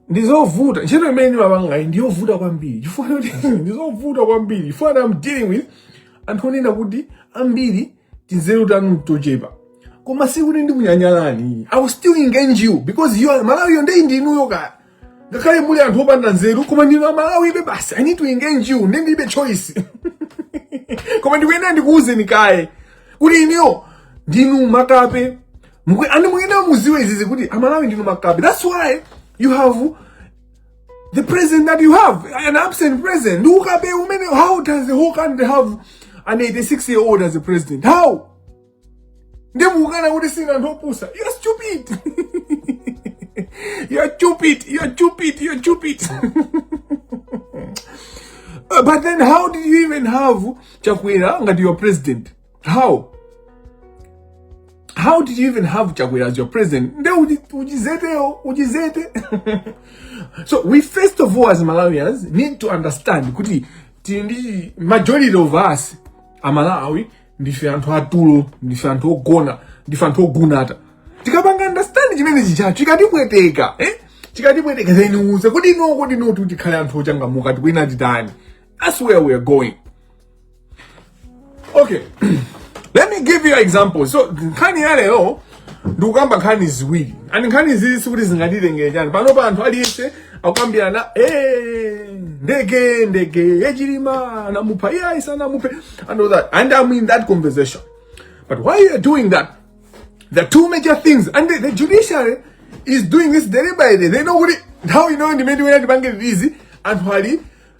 ndizovuta ntchito imene ndimapangayi ndiyovuta kwambiri chifukwa choti ndizovuta kwambiri chifukwa that I'm dealing with anthu onena kuti ambiri tinzeru tanu tochepa koma sikuti ndikunyanyalani i will still engage you because you are malawiyo ndiye ndinuyo kaya ngakhale muli anthu opanda nzeru koma ndinu amalawibe basi i need to engage you nde ndilibe choice koma ndikuyenera ndikuwuzeni kaye kuti inuyo ndinu makape Mukwe- andi mukuyenera muziwe izizi kuti amalawi ndinu makape that's why you have the president that you have an absent president ndi ukape umene how does the whole country have an 86 year old as a president how ndimukukana kuti sina anthu opusa you're stupid you're stupid you're stupid you're stupid Uh, but then how did you even have chakwera ngati your president how how did you even have chakwera as your president nde uji- ujizeteyo ujizete so we first of all as malawians need to understand kuti tili ndi majority of us amalawi ndife anthu atulo ndife anthu ogona ndife anthu ogunata tikapanga understand chimene chijacho chikatipweteka eh? chikatipweteka then uze kodi no kodi no kuti tikhale anthu ochangamuka tikuyenera titani that's where we are going okay let me give you example so nkhani ya lero ndikukamba nkhani ziwiri and nkhani zizi sikuti zingatitengere chani panopa anthu aliyense akukambirana "Eh, ndege ndege ya chilima anamupha iye ayisa anamuphe and all that and i'm in that conversation but while you are doing that there are two major things and the, the judiciary is doing this deliberately they know kuti nthawi inoyo ndimene tikuyenera tipange izi anthu ali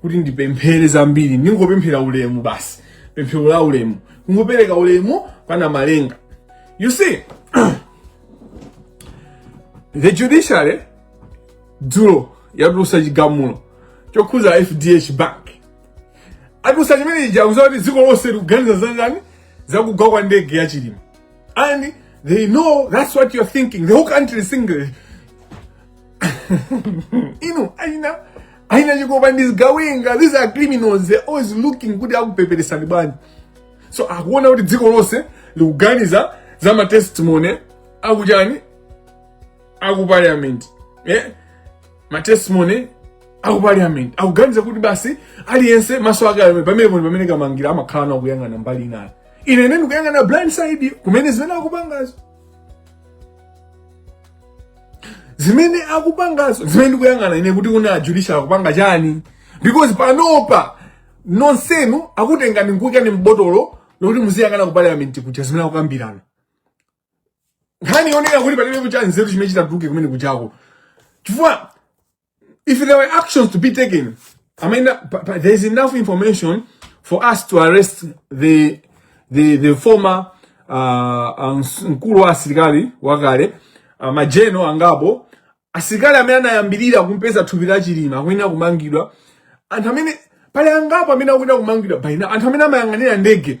kuti ndipemphere zambiri ndingopemphera ulemu basi pemphero la ulemu kungopereka ulemu kwa namalenga you see the judiciary dzulo yatulusa chigamulo chokhuza fdh bank atulusa chimene chija akuziwa kuti dziko lonse likuganiza zanjani zakugwa kwa ndege ya chilima and they know that's what you're thinking the whole country is thinking inu achina achina chikopa ndi zigawenga these are criminals they're always looking kuti akupeperesani bwanji so akuona kuti dziko lonse likuganiza za matestimony a ujeni aku parliament eh? matestimony aku parliament akuganiza kuti basi aliyense maso ake ali pamene pano pamene kamangira amakhala nawo kuyang'ana mbali inayo ine ndikuyang'ana blind side kumene zimene akupangazo zimene akupangazo zimene ndikuyang'ana ine kuti kuna judiciary akupanga chani because panopa nonsenu akutengani nkuyikani m'botolo lokuti muziyang'ana ku parliament kuja zimene akukambirana nkhani yonena kuti palibe kuja chanzeru chimene chitatuluke kumene kujako chifukwa If there were actions to be taken, I mean, uh, but, but there's enough information for us to arrest the the the former uh, mkulu wa asilikali wakale uh, majenero angapo asilikali amene anayambirira kumpeza thupi la Chilima akuyenera kumangidwa anthu amene pali angapo amene akuyenera kumangidwa palinso anthu amene amayang'anira ndege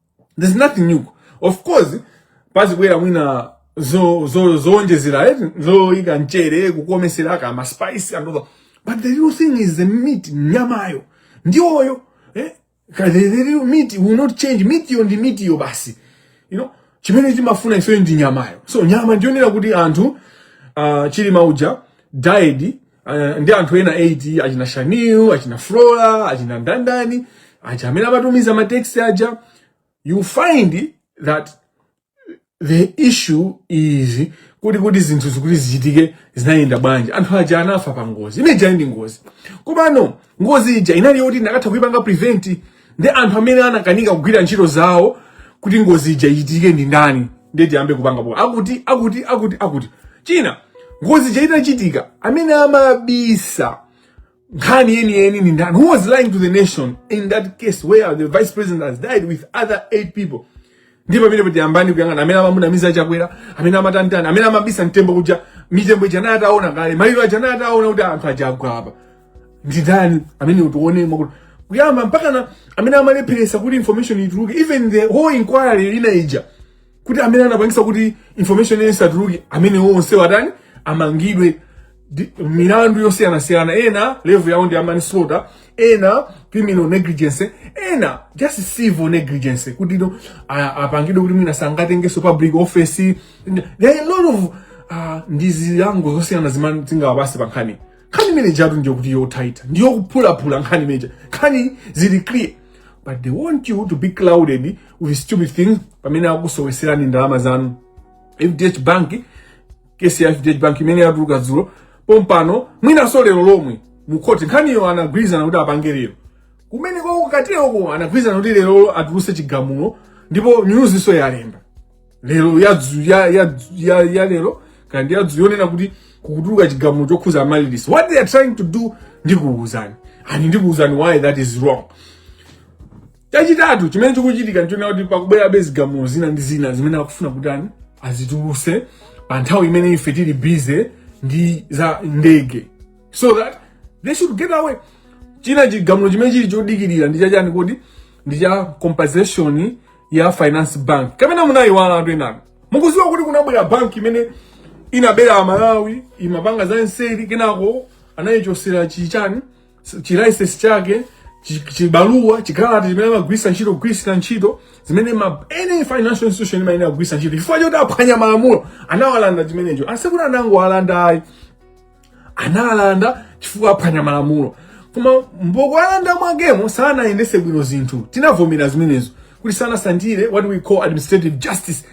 there's nothing new of course pazibwera mwina zo- zo- zoonjezera eti zoyika mchere kukomesera kama spice and all that. but the real thing is the meat nyamayo ndi iyoyo eh? Ka- the, the real meat will not change mitiyo ndi mitiyo basi you know chimene timafuna ifeyo ndi nyamayo so nyama ndi yonena kuti anthu uh, chilima uja died uh, ndi anthu ena 8 achina Shanil achina Flora achina ndandani aja amene amatumiza mateksi aja you find that the issue is kuti kuti zinthu zakuti zichitike zinayenda bwanji anthu aja anafa pa ngozi imene ija ndi ngozi komano ngozi ija inali yoti inakatha kuipanga prevent nde anthu amene anakanika kugwira ntchito zawo kuti ngozi ija ichitike ndi ndani ndiye tiyambe kupanga po akuti akuti akuti akuti china ngozi ija itachitika amene amabisa nkhani yeniyeni ndi ndani who was lying to the nation in that case where the vice president has died with other eight people ndipo pamene kuti yambani kuyang'ana amene amamunamiza chakwera amene amatantana amene amabisa mtembo kuja mitembo ija naye ataona kale maliro aja naye ataona kuti anthu aja agwa apa ndi ndani amene utionemo kuti kuyamba mpaka na amene amalepheresa kuti information ituluke even the whole inquiry ina ija kuti amene anapangisa kuti information isatuluke amene onse watani amangidwe di- milandu yosiyanasiyana ena level yawo ndi ya manslaughter ena criminal negligence ena just civil negligence kuti no a- apangidwe kuti mwina sangatengenso public office there are a lot of ah, ndi zilango zosiyana zimene tingawapase pa nkhani nkhani imene ijatu ndi yo- kuti ya tight ndi yophulaphula nkhani imene ija nkhani zili clear but they want you to be clouded with stupid things pamene akusoweserani ndalama zanu fdh bank case ya fdh bank imene yatuluka dzulo pompano mwinanso lero lomwe mukhoti nkhaniyo anagwirizana kuti apange lero kumene ku ma court-ko anagwirizana kuti lero atuluse chigamulo ndipo nyuzinso yalemba lero yadzu ya ya ya, ya lero kandi yadzu yonena kuti kutuluka chigamulo chokhuza Amaryllis what they are trying to do ndikuwuzani ani ndikuwuzani why that is wrong chachitatu chimene chikuchitika nchonena kuti pakubwerabe zigamulo zina ndi zina zimene akufuna kutani azituluse pa nthawi imene ife tili bize ndi za ndege so that they should get away china chigamulo chimene chili chodikirira ndi chachani kodi ndi cha compensation ya finance bank kapena munayiwala anthu enanu mukudziwa kuti kunabwera bank imene inabera amalawi imapanga za nseri kenako anayichosera chichani chilicense chake chi- chibaluwa chikalata chimene amagwiritsa ntchito kugwiritsa ntchito zimene ma any financial institution imayenera kugwiritsa ntchito chifukwa choti aphwanya malamulo anawalanda chimenecho sikuti anangowalanda ayi analanda chifukwa aphwanya malamulo koma m'mokuwalanda mwakemo sanayendese bwino zinthu tinavomera zimenezo kuti sanatsatire what we call administrative justice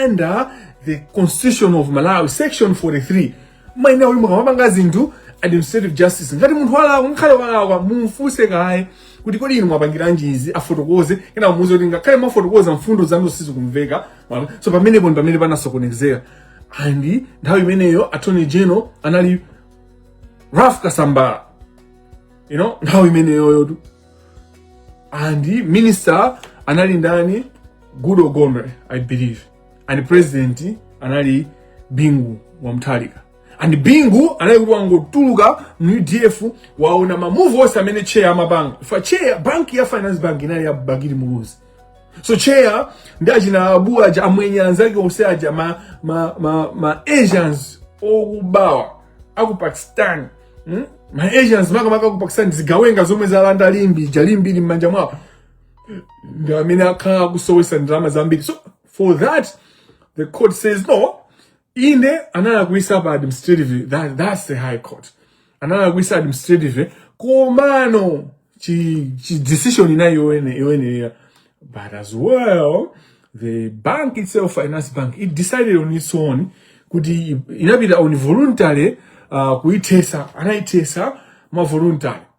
under the constitution of malawi section 43 meaning uyu mukamapanga zinthu administrative justice ngati munthu walakwa ngakhale walakwa mumfunse kaye kuti kodi inu mwapangiranji izi afotokoze kenaka muuze kuti ngakhale mwafotokoza mfundo zanu sizikumveka Mwa- so pamenepo ndi pamene panasokonezera and nthawi imeneyo attorney general anali ralph kasambara you know nthawi imeneyoyo tu and minister anali ndani goodall gondwe i believe and president anali bingu wa mutharika and bingu anali kuti wangotuluka mu udf waona mamuvu onse amene cheya amapanga fa cheya banki ya finance bank inali ya bakili muluzi so cheya ndi achina abu aja amwenye anzake onse aja ma, ma, ma, ma asians okubawa aku pakistan hmm? ma asians makamaka aku pakistan zigawenga zomwe zalanda limbe ija limbe ili m'manja mwawo ndamene akhala akusowesa ndalama zambiri so for that the court says no inde analakwisa pa administrative that, that's the high court analakwisa administrative komano chi, chi decision inali yoyene- yoyenerera but as well the bank itself finance bank it decided on its own kuti inapita on voluntary uh, kuithesa anaithesa mwa voluntary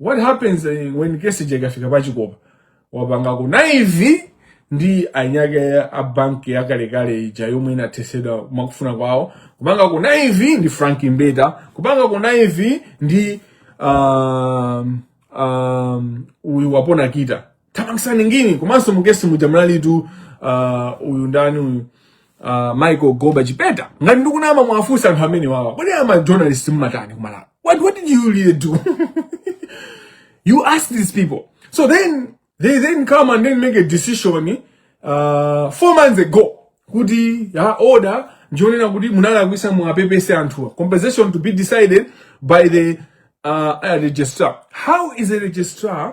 what happens eh, when case ija ikafika pa chikopa wapanga connive ndi eni ake a banki yakalekale ija yomwe inathesedwa mwakufuna kwawo kupanga connive ndi frank mbeta kupanga connive ndi um, um, uyu wapona kita thamangitsani nginini komanso mu case muja munalitu uh, uyu ndani uyu uh, michael goba chipeta ngati ndikunama muwafunse anthu amenewawa kodi ama journalist mmatani kumalawi what, what did you really do you ask these people so then they then come and then make a decision uh, four months ago kuti ya order ndi yonena kuti munalakwisa muwapepese anthuwa compensation to be decided by the uh, uh, registrar how is a registrar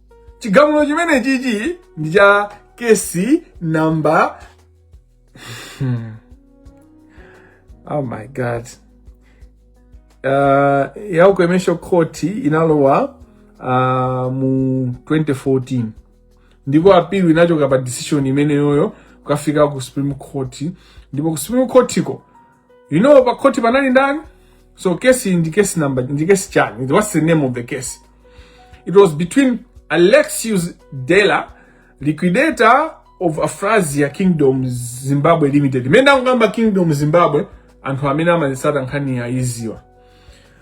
chigamulo chimene chichi ndi cha case number hmm. oh my god uh, ya ukwemesho court inalowa uh, mu 2014 ndipo appeal inachoka pa decision imeneyoyo kukafika ku supreme court ndipo ku supreme court ko you know pa khoti panali ndani so case ndi case number ndi case chani what's the name of the case it was between alexius dela liquidator of afrasia kingdom zimbabwe limited ndimene ndikukamba kingdom zimbabwe anthu amene amazitsata nkhani akuidziwa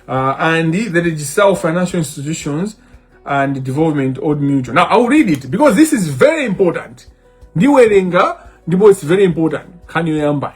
uh, and the registrar of financial institutions and development old mutual now i'll read it because this is very important ndiwerenga ndipo it's very important nkhani yoyambayi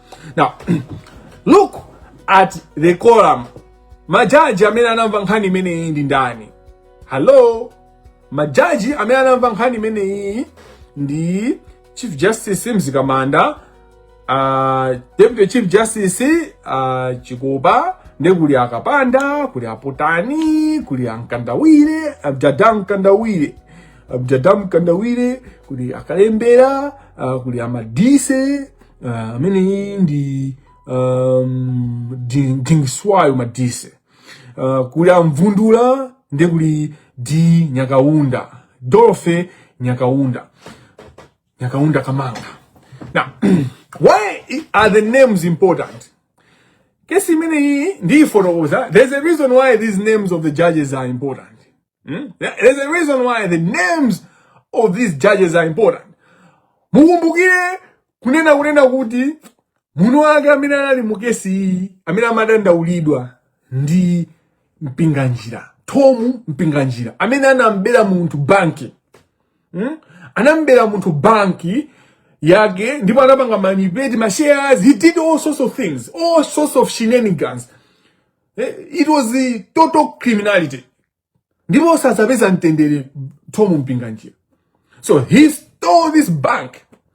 now look at the coram majaji amene anamva nkhani imeneyi ndi ndani hello majaji amene anamva nkhani imeneyi ndi chief justice mzikamanda uh, deputy chief justice uh, chikopa nde kuli akapanda kuli apotani kuli amkandawire jada mkandawire jada mkandawire kuli akalembera uh, kuli amadise uh, ameneyi ndi um, di- dingiswayo madise uh, kuli amvundula ndi kuli di nyakaunda dorothy nyakaunda nyakaunda kamanga now why are the names important kesi imeneyi ndiyifotokoza there's a reason why these names of the judges are important Hmm? There's a reason why the names of these judges are important. Mukumbukire kunena kunena kuti mnzake amene anali mu case iyi amene amadandaulidwa ndi Mpinganjira, Thom Mpinganjira amene anambera munthu banki hmm? anambera munthu banki yake ndipo anapanga manipulate ma shares he did all sorts of things all sorts of shenanigans Eh, it was the total criminality ndipo sadzapeza mtendere thom mpinganjira so he stole this bank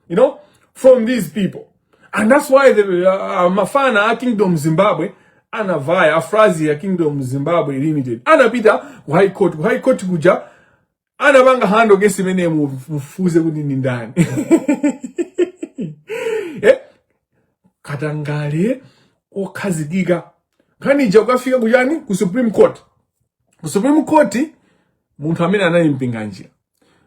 you know from these people and that's why the, uh, uh mafana a kingdom zimbabwe anavaya afrasia kingdom zimbabwe limited anapita ku high court ku high court kuja anapanga handle case imene mufufuze kuti ndi ndani eh? katangale wokhazikika nkhani ija kukafika kuchani ku supreme court ku supreme court munthu amene anali mpinganjira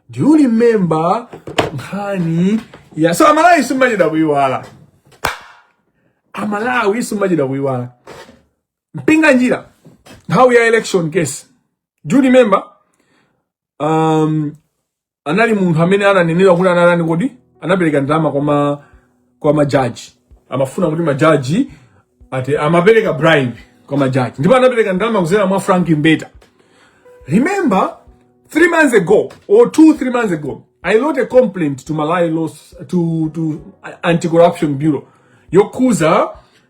do you remember nkhani ya so amalawi simumachedwa kuyiwala amalawi simumachedwa kuyiwala Mpinganjira, nthawi ya election case. Do you remember? Um, anali munthu amene ananenedwa kuti anatani kodi anapereka ndalama kwa ma kwa majaji amafuna kuti majaji ati amapereka bribe kwa majaji ndipo anapereka ndalama kudzera mwa Frank Mbeta remember three months ago or two three months ago I wrote a complaint to Malawi laws to to anti-corruption bureau yokhudza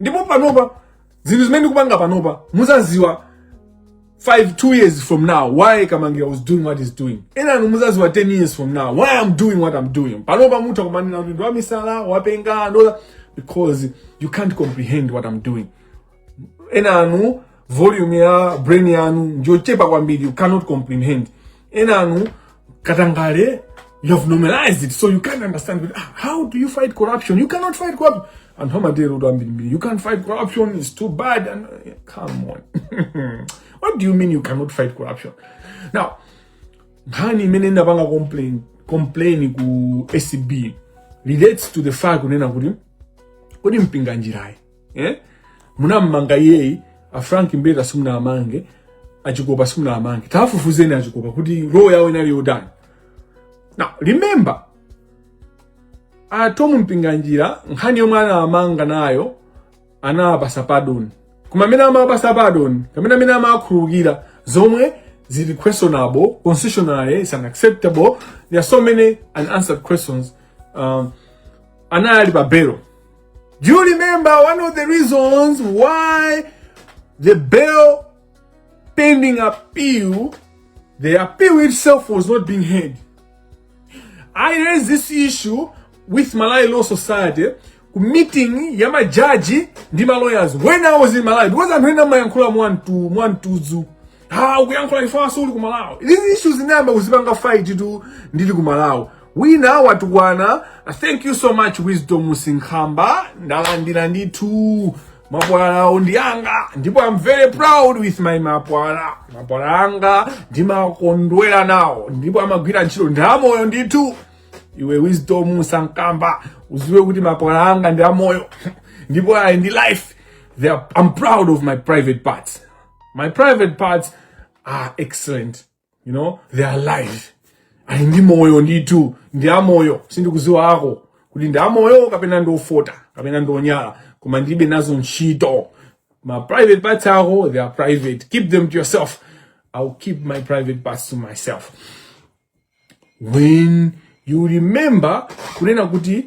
ndipo panopa zinthu zimene ndikupanga panopa muzaziwa 2 years from now why Kamangila was doing what he's doing ena inu muzaziwa 10 years from now why i'm doing what i'm doing panopa mutha kumandinena kuti ndi wamisala wapenga and all that because you can't comprehend what i'm doing ena inu volume ya brain yanu njochepa kwambiri you cannot comprehend enanu katangale you have normalized it so you can't understand it. Ah, how do you fight corruption you cannot fight corruption anthu amatero kuti ambirimbiri you can't fight corruption is too bad and eh, come on what do you mean you cannot fight corruption now nkhani imene ndapanga complain complain ku acb relates to the fact kunena kuti kodi mpinganjirayi eh? munammanga iyeyi a frank mbeta simunamange achikopa simunamange tafufuzeni achikopa kuti roho yawe inali yotani now remember a tom mpinganjira nkhani yomwe anawamanga nayo anawapasa pardon koma amene amawapasa pardon kapena amene amawakhululukira zomwe zili questionable constitutionally is unacceptable there are so many unanswered questions um, anali pa belo Do you remember one of the reasons why the bail pending appeal, the appeal itself was not being heard? I raised this issue with Malawi Law Society meeting ya majaji ndi lawyers when I was in Malawi because anthu ena amayankhula mwantu mwantuzu ha ukuyankhula if wati suli ku malawi these issues ndinayamba kuzipanga fight tu ndili ku malawi wina watukwana thank you so much wisdom sinkhamba ndalandira ndithu mapwala awo ndi anga ndipo am very proud with my mapwala mapwala anga ndimakondwera nawo ndipo amagwira ntchito ndi amoyo ndithu iwe wisdom sinkhamba uziwe kuti mapwala anga ndi amoyo ndipo ali ndi life They are, i'm proud of my private parts My private parts are excellent. You know, they are alive. Ali ndi moyo ndithu, ndi amoyo, sindikuziwa ako. Kuti ndi amoyo kapena ndi ofota, kapena ndi onyala, koma ndilibe nazo ntchito. Ma private parts ako, they are private. Keep them to yourself. I'll keep my private parts to myself. When you remember kunena kuti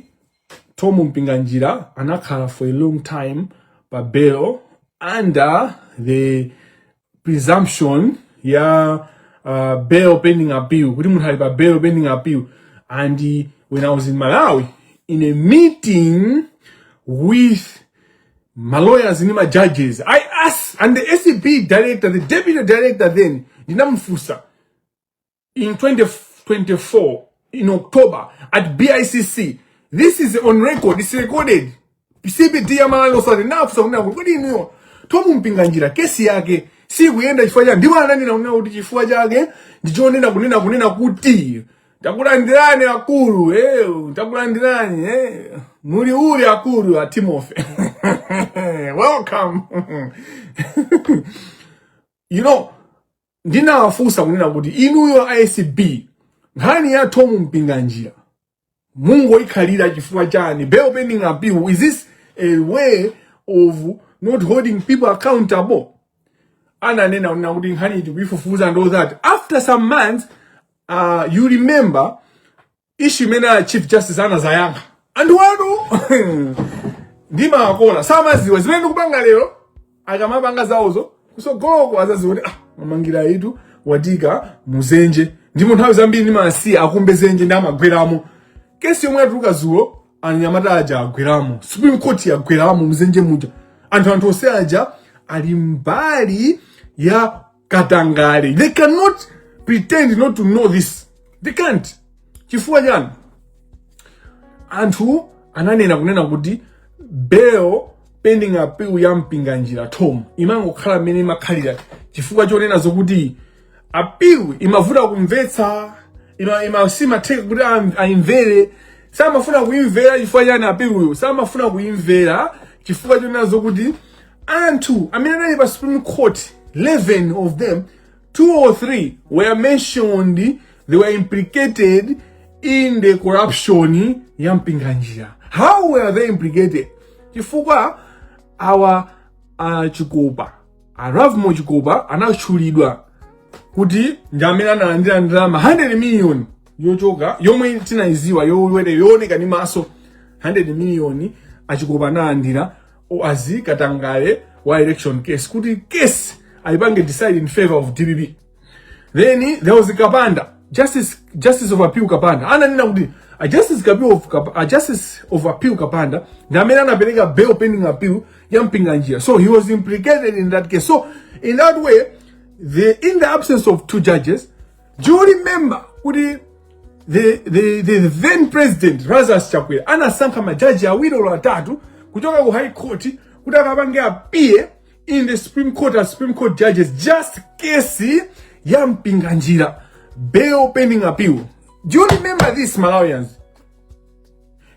Tom Mpinganjira anakhala for a long time pa bail under the presumption ya uh, bail pending appeal kuti munthu ali pa bail pending appeal and when I was in Malawi in a meeting with my lawyers and my judges I asked and the ACB director the deputy director then ndinamufunsa in 2024 in October at BICC. This is on record. It's recorded. CPD ya Malawi Law Society ndinafunsa kunena kuti kodi inuyo Tom Mpinganjira kesi yake sikuyenda chifukwa chani ndipo ananena kunena kuti chifukwa chake ndichonena kunena kunena kuti takulandirani akulu eh takulandirani eh muli uli akulu a Timothy welcome you know ndinawafunsa kunena kuti inuyo acb nkhani ya Thom Mpinganjira mungoikhalira chifukwa chani bail pending appeal is this a way of not holding people accountable ananena kunena kuti nkhaniyi tikuifufuza and all that after some months uh, you remember issue imene a chief justice anazayankha anthu awa ndimawakola samaziwa zimene ndikupanga lero akamapanga zawozo kusogoloko azaziwa kuti ah Kamangila uyutu watiika muzenje ndipo nthawi zambiri ndimasiya akumbe zenje nde amagweramo kesi yomwe yatuluka zulo anyamata aja agweramo supreme court yagweramo muzenje muja anthu anthu onse aja ali mbali ya katangale they cannot pretend not to know this they can't chifukwa chani anthu ananena kunena kuti bail pending appeal ya mpinganjira tom imangokhala mmene imakhalira chifukwa chonena zokuti appeal imavuta kumvetsa ima, ima simatheka kuti am- aimvere samafuna kuimvera chifukwa chani appeal-yo samafuna kuimvera chifukwa chonena zokuti Anthu amene anali pa Supreme Court, 11 of them, two or three were mentioned, they were implicated in the corruption ya Mpinganjira. How were they implicated? Chifukwa awa uh, Chikopa, a Lovemore Chikopa anatchulidwa kuti ndi amene analandira ndalama 100 million yochoka yomwe tinaiziwa yooneka ndi maso 100 million achikopa analandira wazi katangale wa election case kuti case ayipange decide in favor of dpp then there was kapanda justice justice of appeal kapanda ananena kuti a justice kapil of Kap- a justice of appeal kapanda ndi amene anapereka bail pending appeal ya mpinganjira so he was implicated in that case so in that way the in the absence of two judges Do you remember kuti the, the, the then president Lazarus Chakwera anasankha majaji awiri olo atatu kuchoka ku high court kuti akapange appear in the supreme court as supreme court judges just case ya mpinganjira bail pending appeal do you remember this malawians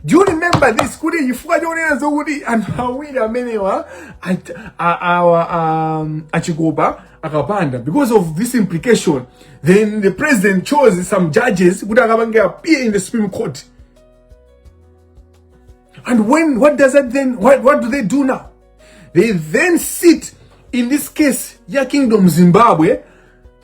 do you remember this kuti chifukwa chonena zokuti anthu awiri amenewa at- a- awa um, achikopa akapanda because of this implication then the president chose some judges kuti akapange appear in the supreme court and when what does that then what, what do they do now they then sit in this case ya kingdom zimbabwe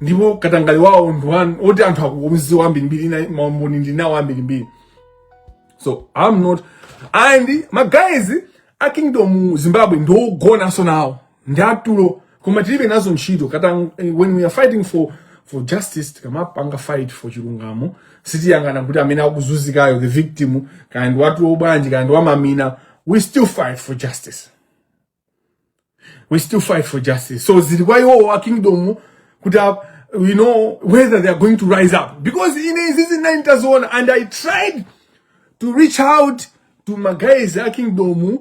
ndipo katangale wawo ndi woti anthu akumudziwa ambirimbiri ina maumboni ndili nawo ambirimbiri so i'm not and magays a kingdom zimbabwe ndi ogonanso nawo ndi atulo koma tilibe nazo ntchito katang eh, when we are fighting for for justice tikamapanga fight for chilungamo sitiyang'ana kuti amene akuzunzikayo the victim kaya ndi watulo bwanji kaya ndi wamamina we still fight for justice we still fight for justice so zili kwa iwo a kingdom kuti a- you know whether they are going to rise up because ine izizi ndinali nditaziona and i tried to reach out to magays a kingdom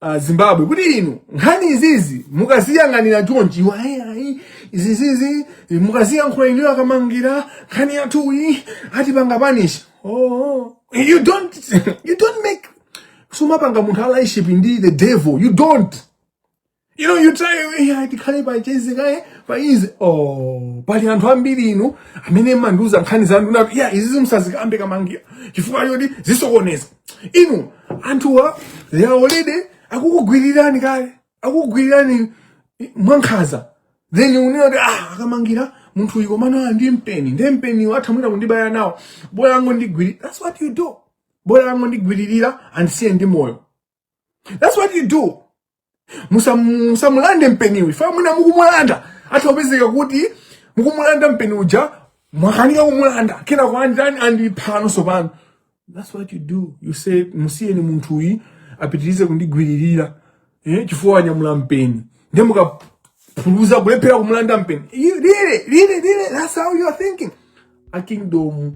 uh, zimbabwe kuti inu nkhani izizi mukaziyang'anira chonchi iwo ayi ayi izizizi mukaziyankhula inuyo akamangira nkhani yathuyi atipanga punish oh, oh. you don't you don't make sumapanga munthu allyship ndi the devil you don't you know you try yeah, tikhale pa chezi kaye pa izi oh pali anthu ambiri inu amene mumandiuza nkhani zanu na yeah izi musazikambe Kamangila chifukwa choti zisokoneza inu anthuwa they are already akukugwirirani kale akukugwirirani mwankhaza then kunena kuti ah a Kamangila munthu uyu komano ndi mpeni ndi mpeni atha mwina kundibaya nawo bola angondigwiririra that's what you do bola angondigwiririra andisiye ndi moyo that's what you do Musam- musamulande mpeniwo chifukwa mwina mukumulanda atha kupezeka kuti mukumulanda mpeni uja mwakanika kumulanda kenako andani andiphano sopano that's what you do you say musiyeni munthu uyu apitirize kundigwiririra eh, chifukwa wanyamula mpeni ndiye mukaphunyuza kulephera kumulanda mpeni You- really really really that's how you are thinking a kingdom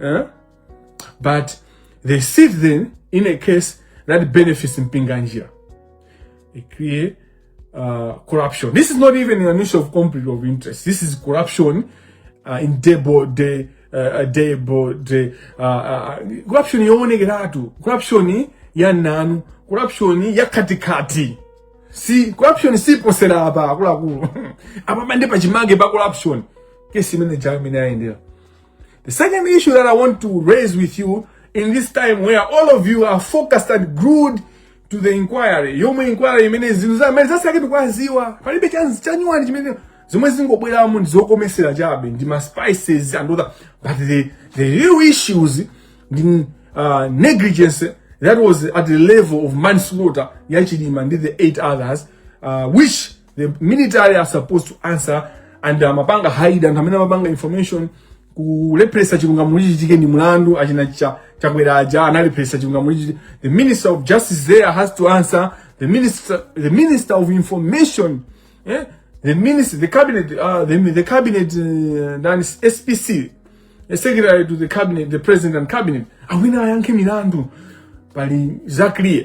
eh? but they sit then in a case that benefits Mpinganjira. They create uh, corruption. This is not even an issue of conflict of interest. This is corruption uh, in debo de uh, uh debo de uh, uh, corruption yowonekeratu corruption ya nanu corruption ya katikati si corruption siposera apa akuluakulu apa pande pachimake pa corruption kesi imene jayo imene ayendera The second issue that I want to raise with you in this time where all of you are focused and glued to the inquiry yomwe inquiry imene zinthu zimene zatsala kuti tidziwe palibe chachi chanyuwani chimene zomwe zikungobweramo ndi zokomesera chabe ndi ma spices and other but the, the real issues ndi uh, negligence that was at the level of manslaughter ya Chilima ndi the eight others uh, which the military are supposed to answer and amapanga hide anthu amene amapanga information kulepheresa chilungamo chichitike ndi mlandu achina cha Chakwera aja analepheresa chilungamo chichitike the minister of justice there has to answer the minister the minister of information eh? the minister the cabinet uh, the, the cabinet uh, that is spc the secretary to the cabinet the president and cabinet awa ayankhe milandu pali za clear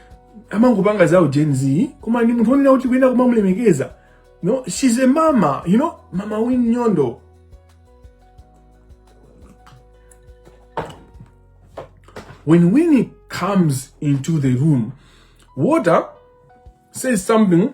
amangopanga zawo gen z koma ndi munthu onena kuti kuyenda kumamulemekeza no she's a mama you know mama Winnie Nyondo when Winnie comes into the room water says something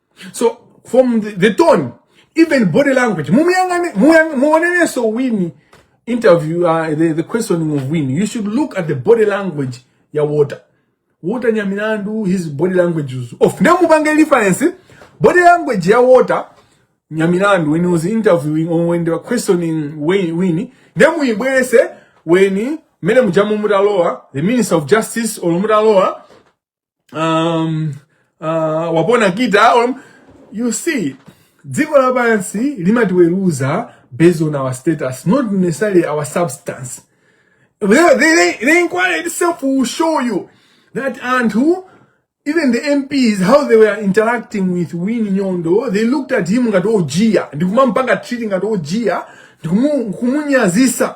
so from the, the tone even body language mumuyang'ane muyang- muonenenso wini interview uh, the, the questioning of wini you should look at the body language ya water water nyamilandu his body language was off nemupange reference body language ya water nyamilandu when he was interviewing or when they were questioning Wayne- wini nemuyibwese weni mmene mujamu mutalowa the minister of justice or mutalowa um, uh, wapona kita um, you see dziko lapansi limatiweruza based on our status not necessarily our substance the, the, the inquiry itself will show you that anthu even the MPs how they were interacting with Winnie Nyondo they looked at him ngati ojiya ndikumampanga treating ngati ojiya ndikumunyazisa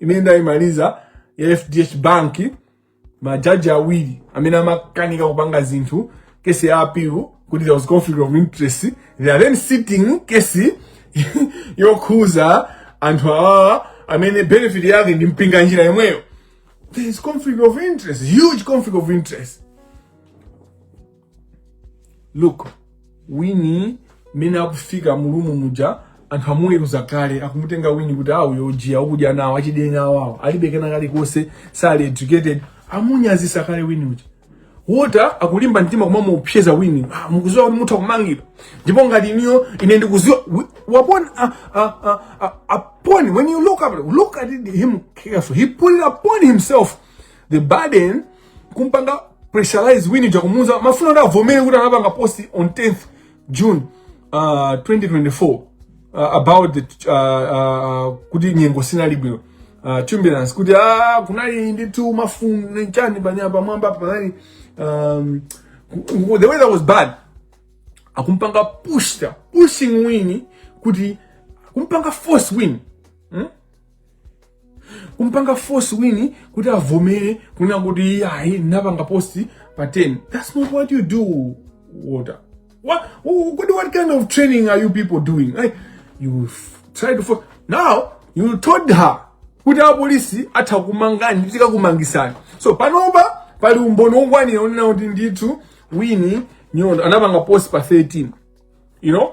imene ndayimaliza ya fdh bank majaji awiri amene amakanika kupanga zinthu kesi ya appeal kuti there was conflict of interest they are then sitting kesi yokhuza anthu awawa amene benefit yake ndi Mpinganjira yemweyo there is conflict of interest huge conflict of interest look winnie mmene akufika mulumu muja anthu amuweruza kale akumutenga winnie kuti awo yojiya ukudya nawo achidenya awawo alibe kena kalikonse sali educated amunyazisa kale winnie uja wota akulimba mtima kumamuopseza winnie ah, mukuziwa kuti mutha kumangidwa ndipo ngati iniyo ine ndikuziwa wi- wapona ah, ah, ah, ah, upon when you look up look at him carefully he put it upon himself the burden kumpanga pressurize winnie uja kumuza amafuna kuti avomere kuti anapanga post on 10th june uh, 2024 uh, about the, uh, uh, kuti nyengo sinali bwino uh, turbulence kuti ah, kunali ndithu mafunde nchani panja pamwamba panali um, the weather was bad akumpanga pushta pushing winnie kuti akumpanga force win hmm? kumpanga force winnie kuti avomere kunena kuti ayi anapanga post pa 10 that's not what you do wota what what, what kind of training are you people doing like you try to force now you told her kuti apolisi atha kumangani kuti tikakumangisani so panopa pali umboni wokwanira onena kuti ndithu winnie nyondo anapanga post pa 13 you know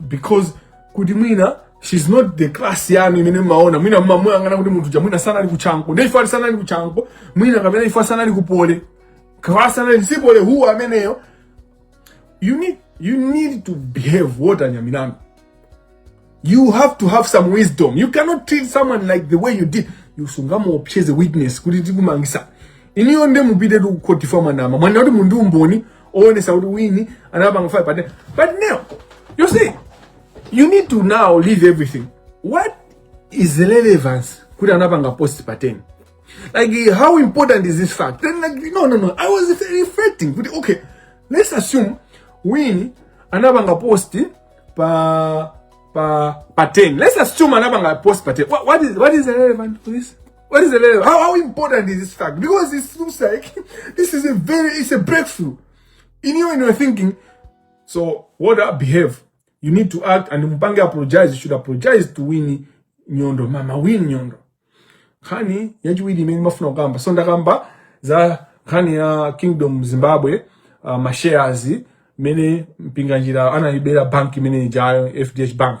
because kuti mwina she's not the class yanu imene mmaona mwina mmamuyang'ana kuti munthu uja mwina sanali ku chanco ndi ife sanali ku chanco mwina kapena ife sanali ku poly class anali si poly who ameneyo you need you need to behave wota anyamata inu you have to have some wisdom you cannot treat someone like the way you did you sungamuopseze witness kuti tikumangisa iniyo nde mupite ku khoti mwanama mwanama kuti muli ndi umboni oonesa kuti wini anapanga fire but but now you see you need to now leave everything what is the relevance kuti anapanga post pa 10 like how important is this fact then like no no no i was reflecting kuti okay let's assume wini anapanga post pa pa pa 10 let's assume anapanga post pa 10 what, what is what is the relevant to this What is the level? How, how important is this fact? Because it looks like this is a very, it's a breakthrough. In you and you're thinking, so what I behave? You need to act and Mpange apologize. You should apologize to Winnie Nyondo. Mama Winnie Nyondo. Kani, yaji Winnie meni mafuna kamba. Sonda kamba za kani ya Kingdom Zimbabwe uh, mashares mene mpinganjira ana ibera bank mene jayo FDH Bank.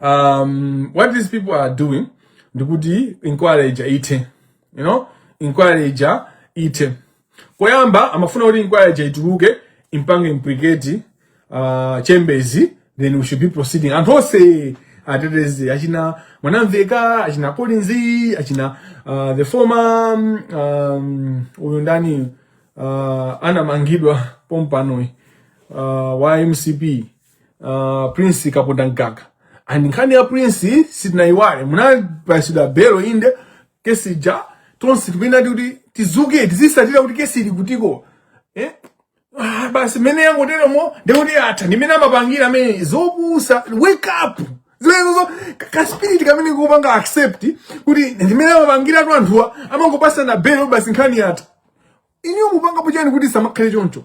um, what these people are doing ndikuti inquiry ija ithe you know inquiry ija ithe koyamba amafuna kuti inquiry ija ituluke impange implicate uh, chimbezi then we should be proceeding anthu onse arrested achina mwanamveka achina collins achina uh, the former um, uyu ndani uh, anamangidwa pompanoyi uh, wa mcp uh, prince kapondamgaga and nkhani ya prince sitinayiwale munapasidwa belo inde kesi ja tonse tinayenera kuti tizuke tizisatira kuti kesi ili kutiko eh? ah, basi mene yangoteremo ndekuti atha ndimene amapangira amwene zopusa wake up zimenezo ka spirit kamene kupanga accept kuti ndimene amapangira atu anthuwa amangopasana belo basi nkhani yatha inuyo mupangapo chani kuti zisamakhale choncho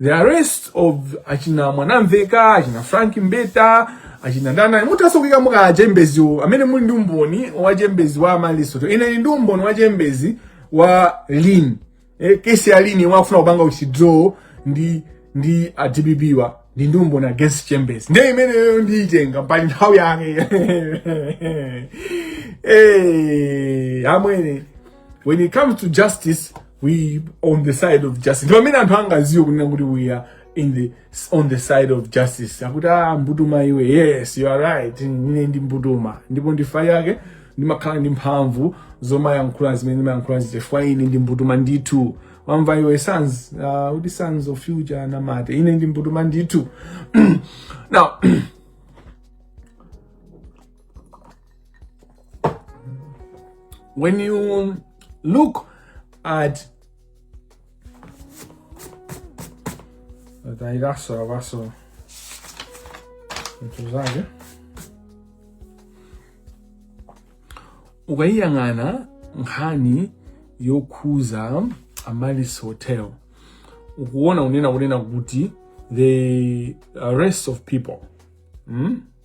The arrest of achina Mwanamvekha, achina Frank Mbeta, achina Ndana muthanso kuikamo ka aChembeziwo amene muli ndi umboni wa Chembezi wa Amaryllis Hotel. Ine ndili ndi umboni wa Chembezi wa Lin. Eh, kesi ya Lin yemwe akufuna kupanga withdraw ndi ndi a DPP wa ndili ndi umboni against Chembezi. Ndiye imeneyo ndiyitenga pa nthawi yake. Eh, amwene. when it comes to justice we on the side of justice ndi pamene anthu angaziwe kunena kuti we are in the on the side of justice akuti ah mbutuma iwe yes you are right ine ndi mbutuma ndipo n'chifukwa chake ndimakhala ndi mphamvu zomayankhula zimene ndimayankhula chifukwa ine ndi mbutuma ndithu wamva iwe sons uh, kuti sons of future namate ine ndi mbutuma ndithu now When you look at Dai raso, raso. Mtuzage. Ukayiyang'ana nkhani yokhuza Amaryllis Hotel. Ukuona kunena kunena kuti the arrest of people. Hmm?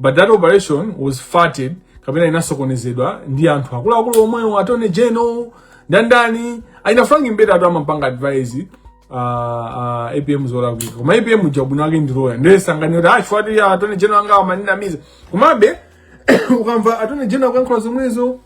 but that operation was thwarted kapena inasokonezedwa ndi anthu akuluakulu omwewo attorney general ndandani achina frank mbeta anthu amampanga advise uh, uh, apm zolakwika koma apm uja mwini wake ndi loya ndiye sanganene kuti ah chifukwa choti attorney general anga amandinamiza komabe ukamva attorney general akuyankhula zomwezo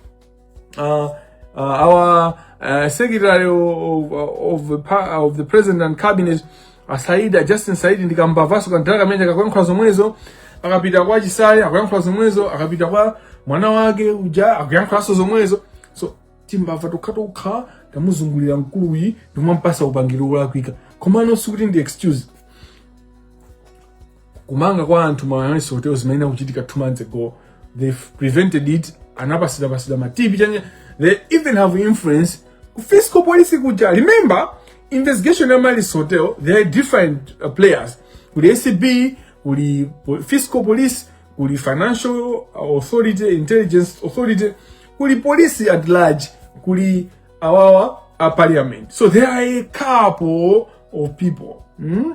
uh, uh, our uh, secretary of, of, the, of the president and cabinet uh, Saidi, uh, Justin Saidi ndi kambavanso kantaka kameneka kakuyankhula zomwezo akapita kwa Chisale akuyankhula zomwezo akapita kwa mwana wake uja akuyankhulanso zomwezo so timbava tokha tokha tamuzungulira mkuluyi ndikumampatsa upangiri wolakwika komano sikuti ndi excuse kumanga kwa anthu ma analysis hotel zimene akuchitika two months ago they prevented it anapasida pasida ma tv chanye they even have influence ku fiscal policy kuja remember investigation ya malis hotel there are different uh, players kuli acb kuli fiscal police kuli financial authority intelligence authority kuli police at large kuli awawa a parliament so there are a couple of people mm?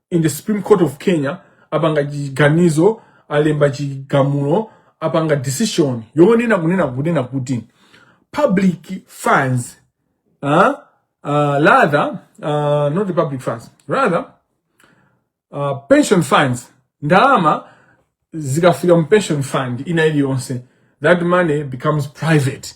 in the supreme court of kenya apanga chiganizo alemba chigamulo apanga decision yonena kunena kunena kuti public funds uh, uh, rather uh, not the public funds rather uh, pension funds ndalama zikafika mu pension fund ina iliyonse that money becomes private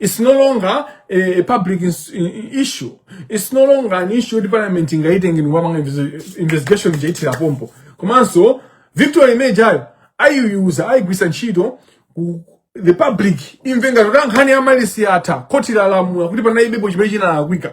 It's no longer a, a public ins- i- i- issue. It's no longer an issue yoti parliament ingaitenge ndikumapanga investigation ija ithera pompo. Komanso victory imene ija ayiyuza ayigwiritsa ntchito kuti the public imve ngati kuti ah nkhani ya Amaryllis yatha khoti lalamula kuti panalibepo chimene chinalakwika.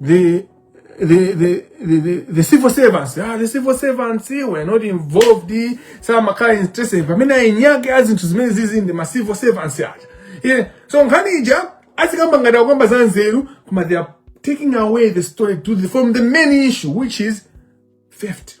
the the the the, the, the civil servants ah, the civil servants were not involved samakhala interested pamene eni ake a zinthu zimene zizi ndi ma civil servants aja yeah. so nkhani ija azikamba ngati akukamba za nzeru koma they are taking away the story to the, from the main issue which is theft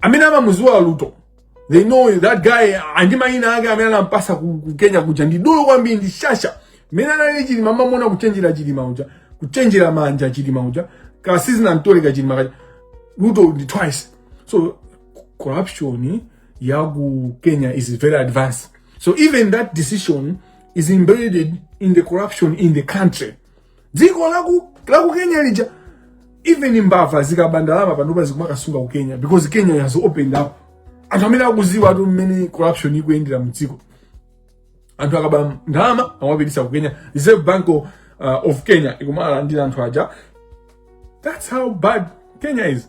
amene amamuziwa Ruto they know that guy ndi mayina ake amene anampasa ku, ku kenya kuja ndi dolo kwambiri ndi shasha mmene analili chilima mumamuona kuchenjera chilima uja kuchenjera manja chilima uja kasizina mtole ka chilima kaja Ruto ndi twice so corruption ya ku kenya is very advanced so even that decision is embedded in the corruption in the country dziko laku laku kenya lija even mbava zikaba ndalama panopa zikumakasunga ku kenya because kenya has opened up anthu amene akuziwatu mmene corruption ikuyendera mdziko anthu akaba ndalama amapitisa ku kenya reserve bank of, uh, of kenya ikumalandira anthu aja that's how bad kenya is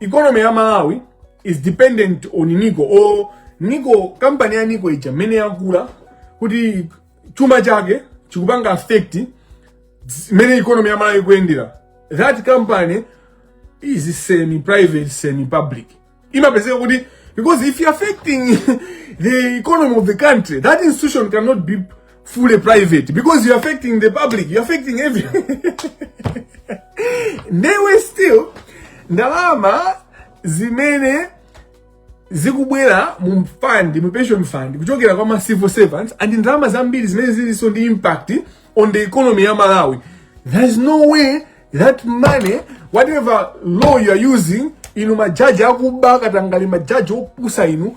economy ya malawi is dependent on nico or nico kampani ya nico ija mmene yakula kuti chuma chake chikupanga affect mmene economy ya malawi ikuyendera that company is semi private semi public imapezeka kuti because if you affecting the economy of the country that institution cannot be fully private because you're affecting the public, you're affecting everyone. they were still ndalama zimene zikubwera mu fund mu pension fund kuchokera kwa ma civil servants and ndalama zambiri zimene zilinso ndi impact on the economy ya Malawi there's no way that money whatever law you are using inu majaji akuba akatangale majaji opusa inu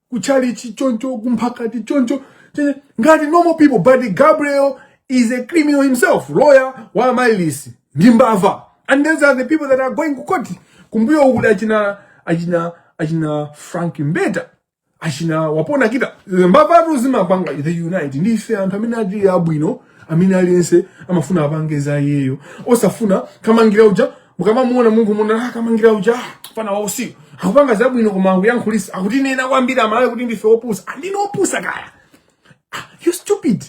kuchalichi choncho kumphakati choncho ngati normal people but gabriel is a criminal himself lawyer wa mailisi ndi mbava and those are the people that are going kukoti kumbuyo kuli achina achina achina frank mbeta achina wapona kita mbavatu zimapanga unite ndi ife anthu amene tili abwino amene aliyense amafuna apange za iyeyo osafuna kamangira uja mukamamuona munthu munthu Kamangira uja fana wa usiku akupanga zabwino koma akuyankhulisa akutinena kwambiri amalawi kuti ndife opusa sindine ah, opusa kaya ah, you stupid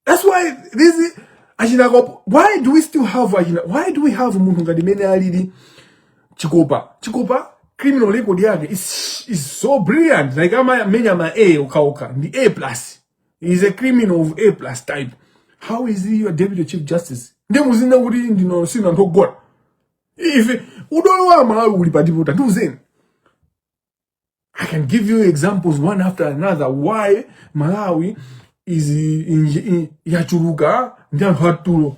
that's why this achina why do we still have achina why do we have munthu ngati mene alili chikopa chikopa criminal record yake is, is so brilliant like ama menya ma a okhaokha ndi a plus he's a criminal of a plus type how is he your deputy chief justice nde muziti kuti sindife anthu ogona ife udolo wa malawi uli patipo tandiuzeni i can give you examples one after another why malawi is in, in, yachuluka ndi anthu atulo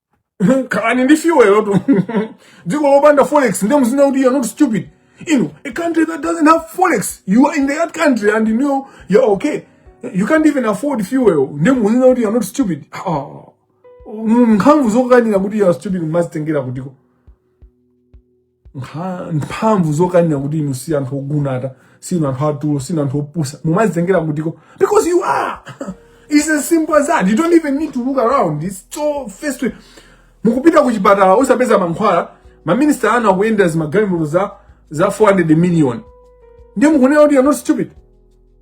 khalani ndi fuel tu dziko lopanda forex ndiye muzinena kuti you are not stupid you know a country that doesn't have forex you are in that country and you know you are okay you can't even afford fuel ndiye muzinena kuti you are not stupid Ah, mm, mphamvu zokanira kuti you are stupid mumazitengera kutiko nkha- mphamvu zokanira kuti inu si anthu ogunata si inu anthu atulo si inu anthu opusa mumazitengera kutiko because you are It's as simple as that you don't even need to look around it's so mukupita ku chipatala osapeza mankhwala maminista anu akuyendera zimagalimoto za za 400 million ndiye mukunena kuti you're not stupid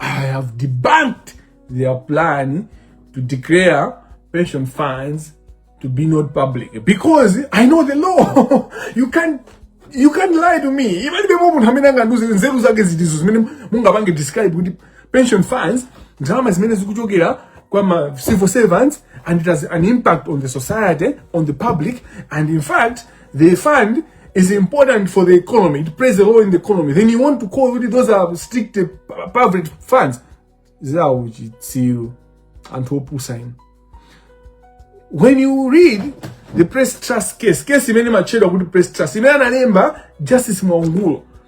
I have debunked their plan to declare pension funds to be not public because I know the law. you can't you can't lie to me. Even if munthu amene angandiuze nzeru zake zitizo zimene mungapange describe kuti pension funds ndalama zimene zikuchokera kwa ma civil servants and it has an impact on the society, on the public and in fact The fund is important for the economy. It plays a role in the economy. Then you want to call kuti those are strict uh, pu- public funds. Zawo chitsiru. Anthu opusa inu. When you read the press trust case, case imene matchedwa kuti press trust, imene analemba Justice Mwangulo.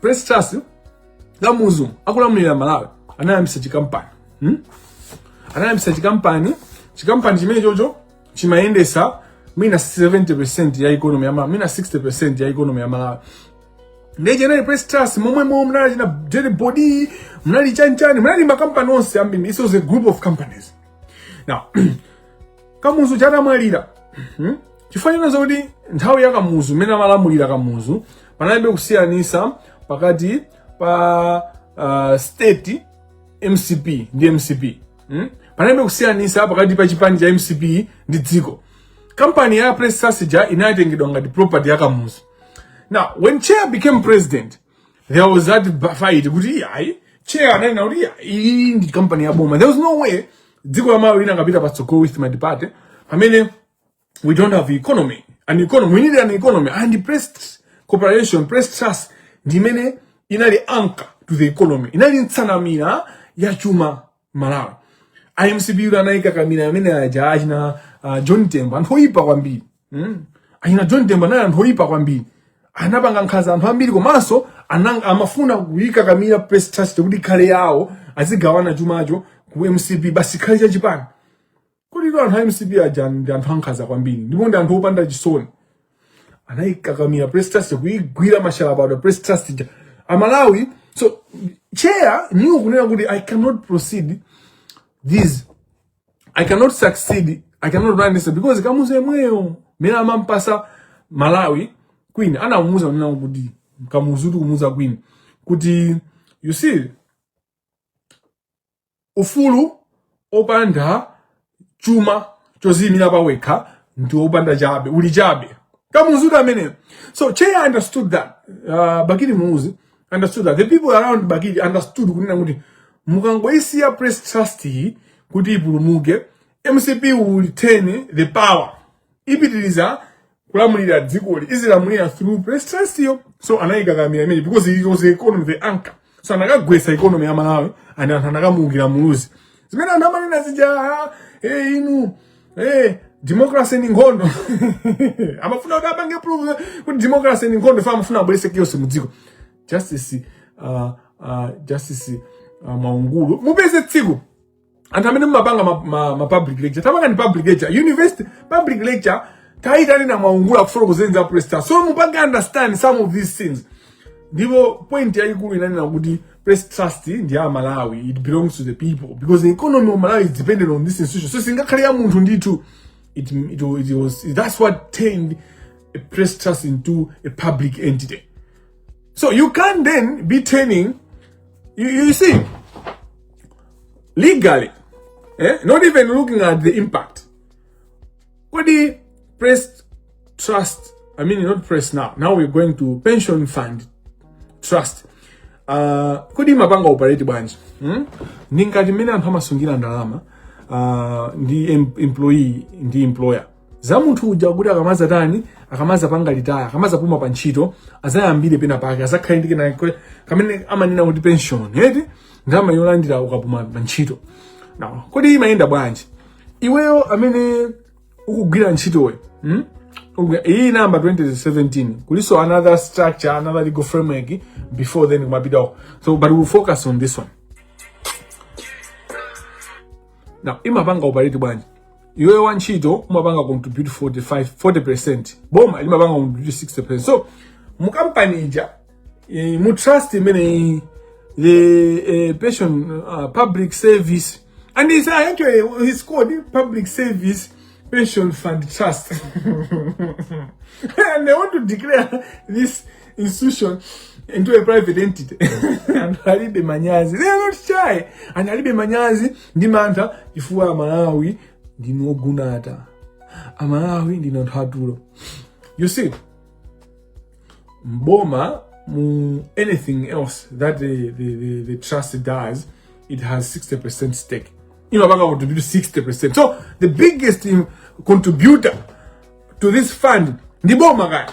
press trust Kamuzu akulamulira malawi anayambisa chikampani hmm? anayambisa chikampani chikampani chimene chocho chimayendesa mwina 70 ya economy ya malawi mwina 60 ya economy ya malawi ndiye inali press trust momwe momwe munali achina dairibord munali chanichani munali makampani onse ambiri this was a group of companies now kamuzu atamwalira hmm? chifukwa china zoti nthawi ya kamuzu imene amalamulira kamuzu panalibe kusiyanisa pakati pa uh, state mcp ndi mcp hmm? panalibe kusiyanisa pakati pa chipani cha mcp ndi dziko kampani ya press trust ija inatengedwa ngati property ya kamuzu now when chair became president there was that ba- fight kuti ayi chair ananena kuti iyi ndi company ya boma there was no way dziko la malawi likanapita patsogolo with multiparty pamene we don't have economy an economy we need an economy and press corporation press trust ndi imene inali anchor to the economy inali nsanamira ya chuma Malawi. A MCP ndiye anaikakamira amene aja achina uh, John Tembo anthu oyipa kwambiri. Mm. Achina John Tembo ndiye anthu oyipa kwambiri. Anapanga nkhanza anthu ambiri komanso ananga amafuna kuikakamira press trust kuti ikhale yawo azigawana chumacho ku MCP basi chikhale cha chipani. kodi inu anthu a mcp aja ndi anthu ankhanza kwambiri ndipo ndi anthu opanda chisoni anayikakamira press trust kuyigwira mashalabadwa press trust ija amalawi so chair knew kunena kuti i cannot proceed this i cannot succeed i cannot run this because kamuzu yemweyo mmene amampatsa malawi queen anamuuza kunena kuti kamuzu tikumuuza queen kuti you see ufulu opanda chuma choziyimira pawekha ndi opanda chabe uli chabe kamuzu ameneyo so chair understood that uh, bakili muluzi understood that the people around bakili understood kunena kuti mukangoisiya press trust iyi kuti ipulumuke mcp will retain the power ipitiriza kulamulira dzikoli izilamulira through press trust yo so anayikakamira imene because it was the economy the anchor so anakagwesa economy ya malawi and anthu anakamuukira muluzi zimene anthu amanena zija ah, eh, inu eh, democracy ndi nkhondo amafuna kuti apange prove kuti democracy ndi nkhondo ifa amafuna abwerese chaos mu dziko justice uh, uh, justice uh, mwaungulu mupeze tsiku anthu amene mumapanga ma, ma, ma public lecture tapangani public lecture university public lecture tayitanani mwaungulu akufotokozeni za press trust so mupange understand some of these things ndipo point yayikulu inanena kuti press trust ndi ya malawi it belongs to the people because the economy of malawi is dependent on this institution so singakhale ya munthu ndithu it, it, it was, that's what turned a press trust into a public entity So you can then be turning, you, you see, legally, eh? not even looking at the impact. What the press trust, I mean, not press now, now we're going to pension fund trust. Uh, kodi mapanga operate bwanji hmm? ndi ngati mmene anthu amasungira ndalama uh, ndi em employee ndi employer za munthu uja kuti akamaza tani akamaza panga retire akamaza puma pa ntchito azayambire pena pake azakhale ndi kena kwe- kamene amanena kuti pension eti ndalama yolandira ukapuma pa ntchito now kodi imayenda bwanji iweyo amene ukugwira ntchitowe hmm? Ukugwira- iyi inayamba 2017 kuliso another structure another legal framework before then kumapitawo so but we'll focus on this one now imapanga operate bwanji iweyo wa ntchito umapanga contribute 45 40% boma limapanga contribute 60% so mu company ija eh, mu trust imene the eh, pension uh, public service and it's actually it's called public service pension fund trust and they want to declare this institution into a private entity anthu alibe manyazi they are not shy and alibe manyazi ndi mantha chifukwa amalawi ndinu ogonatu amalawi ndinu anthu atulo you see boma mu anything else that the, the, the, the trust does it has 60% stake imapanga contribute 60% so the biggest um, contributor to this fund ndi boma kaya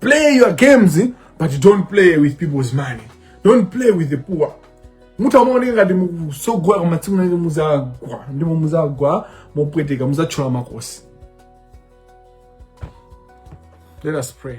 play your games but don't play with people's money don't play with the poor mutha kumaoneka ngati mukusogola koma tsiku lake muzagwa ndipo muzagwa mopweteka muzatchola makosi let us pray